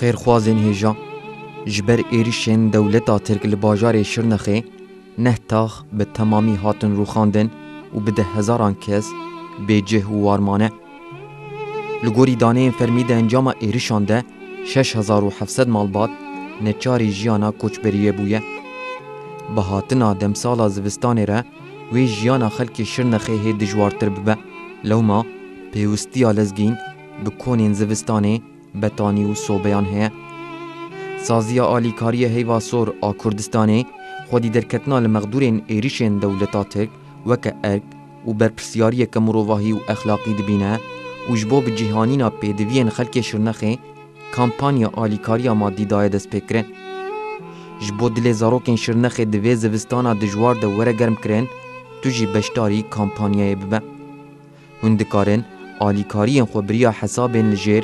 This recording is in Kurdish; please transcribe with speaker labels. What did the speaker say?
Speaker 1: Xêrxwazên hêja ji ber êrişên dewleta Tirk li bajarê Şirnexê neh tax bi temamî hatin rûxandin û bi deh hezaran kes bêcih û warmane. Li gorî daneyên fermî di encama êrişan de şeş hezar û heft sed malbat neçarî jiyana koçberiyê bûye. Bi hatina demsala zivistanê re wê jiyana xelkê Şirnexê hê dijwartir bibe. Lewma pêwistiya lezgîn bi konên zivistanê, betanî û sobeyan heye. Saziya Alîkariyê Heyva Sor a Kurdistanê xwedî derketina li mexdûrên êrişên dewleta Tirk weke erk, û berpirsyariyeke mirovahî û exlaqî dibîne û ji bo bi cîhanîna pêdiviyên xelkê Şirnexê kampanya alîkariya madî daye destpêkirin. Ji bo dilê zarokên Şirnexê di vê zivistana dijwar de were germkirin, tu jî beşdarî kampanyayê bibe. Hûn dikarin alîkariyên xwe biriya hesabên li jêr,